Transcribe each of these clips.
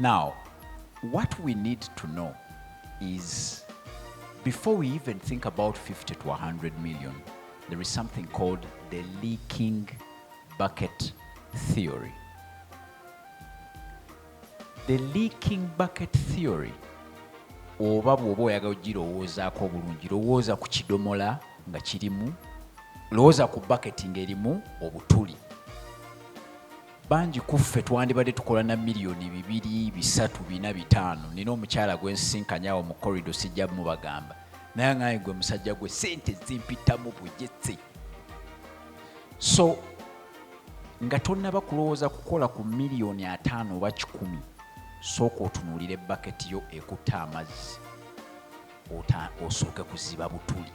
Now, what we need to know is before we even think about 50 to 100 million, there is something called the leaking bucket theory. The leaking bucket theory oba bw'oba oyagala ogirowoozaako obulungi lowooza ku kidomola nga kirimu lowooza ku baketi ng'erimu obutuli Bangi ku ffe twandibadde tukola na miliyoni bibiri, bisatu, bina, bitaano. Nnina omukyala gwe nsisinkanye awo mu corridor, sijja mubagamba. Naye aŋŋambye, Ggwe musajja gwe, ssente zimpitamu bugyetse. So, nga tonnaba kulowooza kukola ku miliyoni ataano oba kikumi, sooka otunuulire baketi yo ekutte amazzi. ota osooke kuziba butuli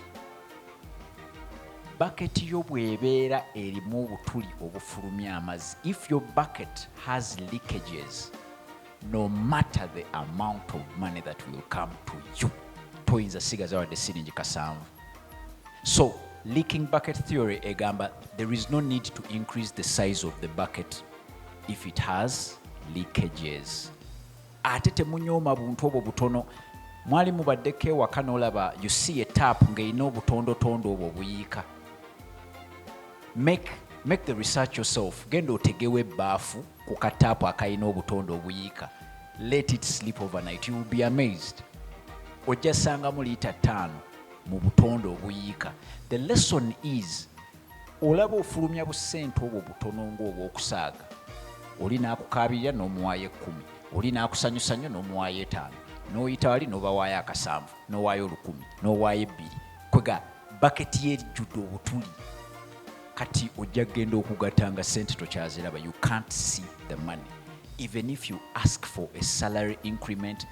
baketi yo bwebeera erimu obutuli obufulumya amazzi if your bucket has leakages no matter the amount of money that will come to you toyinza sigaza wadde siringi kasanvu so leaking bucket theory egamba there is no need to increase the size of the bucket if it has leakages ate temunyooma buntu obwo butono mwali mubaddeko ewaka nolaba you see a tap ng'erina obutondotondo obwo obuyiika make make the research yourself genda otegewo ebbaafu ku kataapu akalina obutonde obuyiika let it sleep overnight you will be amazed ojja sangamu liita ttaano mu butonde obuyiika the lesson is Olaba ofulumya busente obwo butono ng'obw'okusaaga, oli n'akukaabirira n'omuwaayo ekkumi, oli n'akusanyusa nnyo n'omuwaayo etaano, n'oyita wali n'obawaayo akasanvu, n'owaayo olukumi, n'owaayo ebbiri, kwega baketi yo ejjude obutuli. Kati ojja kugenda okugatta nga ssente tokyaziraba, you can't see the money even if you ask for a salary increment,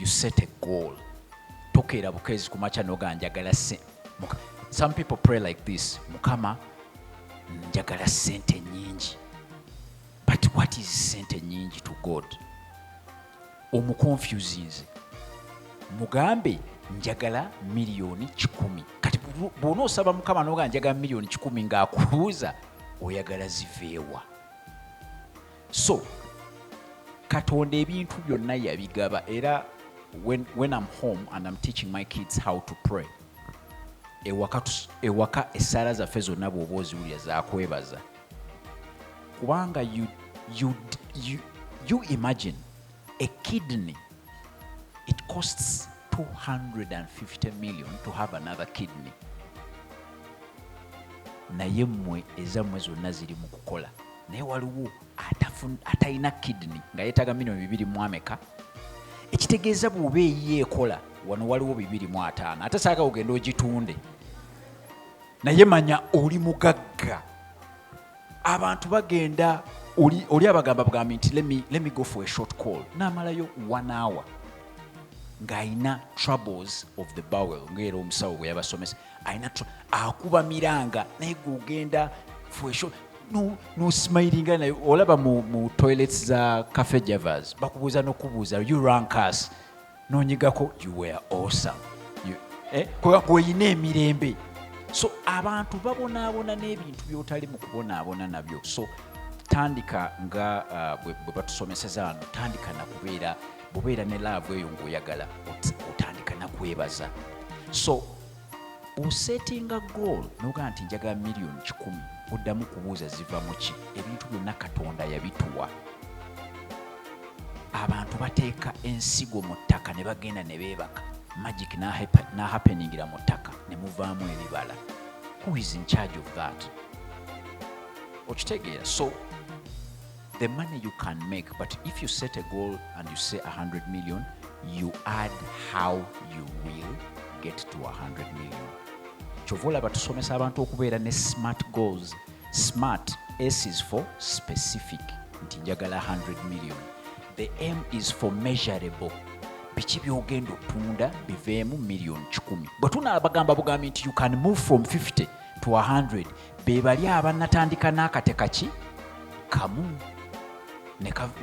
you set a goal tokeera bukezi ku makya noga njagala se some people pray like this mukama njagala sente nyingi but what is sente nyingi to god omuconfusinze mugambe njagala miliyoni kikumi kati bwona osaba mukama noga njagala miliyoni kikumi ngaakubuuza oyagala ziveewa so katonda ebintu byonna yabigaba era when, when I'm home and I'm teaching my kids how to pray ewaka, ewaka essaala zaffe zonna bw'oba oziwulira zakwebaza kubanga you, you, you, you imagine a kidney it costs 250 million to have another kidney naye mmwe ezammwe zonna ziri mu kukola naye waliwo atalina kidney nga yetaga mino bibiri mwameka ekitegeeza bwoba eyiyo ekola wano waliwo bibiri mu ataano ate saaka ogenda ogitunde naye manya oli mugagga abantu bagenda oli abagamba bugambi nti let me go for a short call namalayo one hour ng'alina troubles of the bowel ngaera omusawo bwe yabasomesa alina akuba miranga naye gogenda fwesho nosmilinga naye olaba mu, mu toilets za cafe javers bakubuuza nokubuuza you rank us nonyigako you were awesome eh, kweyina emirembe so abantu babonaabona n'ebintu byotali mu kubonaabona nabyo so tandika nga uh, bwe batusomeseza ano tandika nakubeera bubeera ne laavu eyo ng'oyagala otandika nakwebaza so osetinga goal nogaa nti njagala miliyoni kikumi oddamu kubuuza ziva muki ebintu byonna katonda yabituwa abantu bateeka ensigo mu ttaka ne bagenda ne beebaka magic nahappeningira mu ttaka ne muvaamu ebibala who is in charge of that okitegeera so the money you can make but if you set a goal and you say 100 million you add how you will get to 100 million kyova olaba tusomesa abantu okubeera ne smart goals smart s is for specific nti njagala 100 million the m is for measurable biki byogenda otunda biveemu million 1 bwe tunaabagamba bugambi nti you can move from 50 to 100 be bali abanatandika n'akate kaki kamu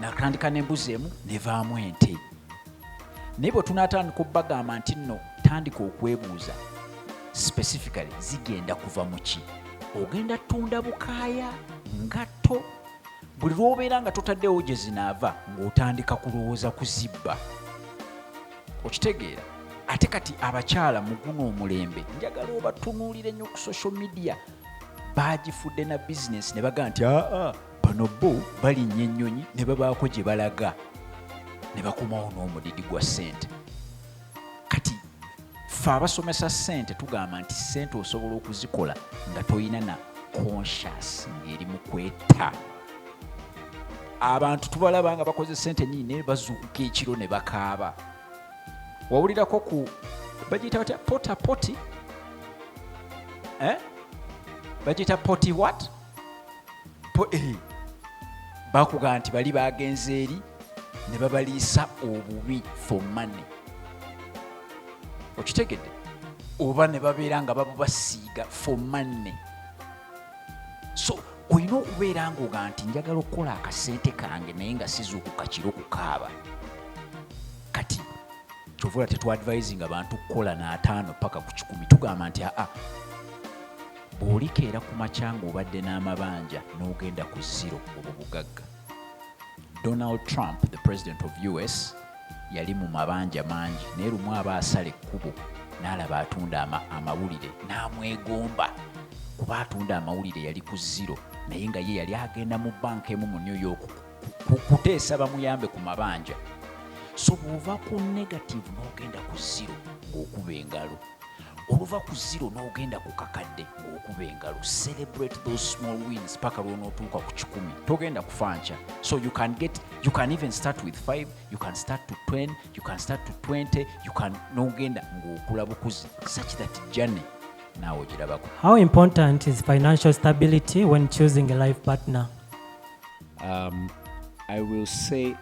natandika n'embuzi emu nevaamu ente naye bwe tunatandika okubagamba nti nno tandika okwebuuza specifically zigenda kuva mu ki ogenda tunda bukaaya ngatto buli lwobeera nga totaddewo gye zinaava ng'otandika kulowooza kuzibba okitegeera ate kati abakyala muguno omulembe njagala obatunuulire nnyo ku social media baagifudde na bizinesi ne baga nti aa bano bo balinnya ennyonyi ne babaako gye balaga ne bakomawo n'omudidi gwa ssente kati fe abasomesa ssente tugamba nti ssente osobola okuzikola nga tolina na conscious ng'eri mu kwetta abantu tubalaba nga bakoze sente nyini naye bazuukuka ekiro ne bakaaba wawulirako ku bagiyita batya pota poti eh? bagiyita poti wat po, eh. bakuga nti bali bagenze eri ne babaliisa obubi for money okitegedde oba ne babeera nga babubasiiga for money so olina okubeera ngoga nti njagala okukola akasente kange naye nga sizuukuka kiro kukaaba kati kyovula tetwadvisinga bantu kukola naataano paka ku kikumi tugamba nti aa bwolikeera ku makyanga obadde n'amabanja n'ogenda ku ziro obwo bugagga Donald Trump the president of US yali mu mabanja mangi naye lumu aba asala ekkubo n'alaba atunda amawulire n'amwegomba kuba atunda amawulire yali ku ziro naye nga ye yali agenda mu banka emu mu new york kuteesa bamuyambe ku mabanja so bw'ova ku negative n'ogenda ku ziro ng'okuba engalo oluva ku zero n'ogenda ku kakadde ng'okuba engalo celebrate those small wins paka lw'onootuuka ku kikumi togenda kufa nkya so you can get you can even start with 5 you can start to 10 you can start to 20 you can n'ogenda ng'okula bukuzi such that journey naawe ogirabako how important is financial stability when choosing a life partner um, i will say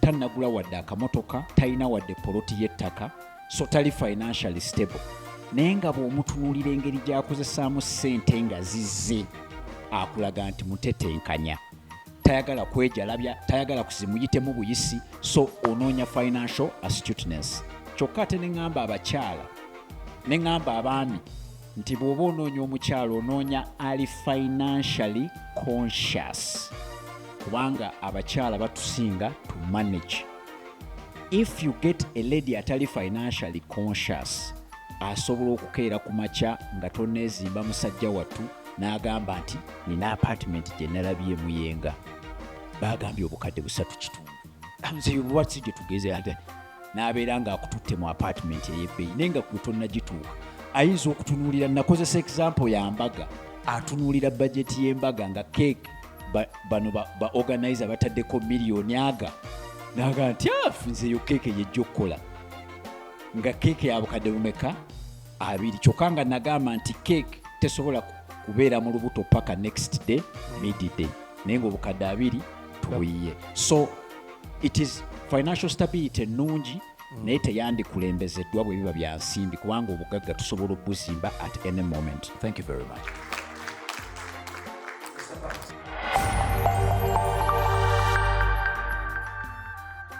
tannagula wadde akamotoka talina wadde poloti y'ettaka so tali financially stable naye nga bw'omutunuulira engeri gy'akozesaamu ssente nga zizze akulaga nti mutetenkanya tayagala kwejalabya tayagala kuzimuyitemu buyisi so onoonya financial astuteness kyokka ate ne ŋŋamba abakyala ne ŋŋamba abaami nti bw'oba onoonya omukyalo onoonya ali financially conscious kubanga abakyala batusinga to manage if you get a lady atali financially conscious asobola okukeera ku makya nga toneezimba musajja wattu n'agamba nti nina apartment gye nalabye muyenga baagambye obukadde busatu kitundu nze obubatsi gye tugeze ate n'abeera ng'akututte mu apaatimenti ey'ebbeeyi naye nga gwe tonnagituuka ayinza okutunuulira nakozesa example ya mbaga atunuulira bajeti y'embaga nga keeke bano ba organize abataddeko miliyoni aga naga nti afu ah, nze yo keeke yejja okukola nga keeke yabukadde bumeka abiri kyokka nga nagamba nti cake tesobola kubeera mu lubuto paka next day midday naye nga obukadde abiri tubuyiye so it is financial stability ennungi mm. naye teyandikulembezeddwa bwe biba bya nsimbi kubanga obugagga tusobola okubuzimba at any moment thank you very much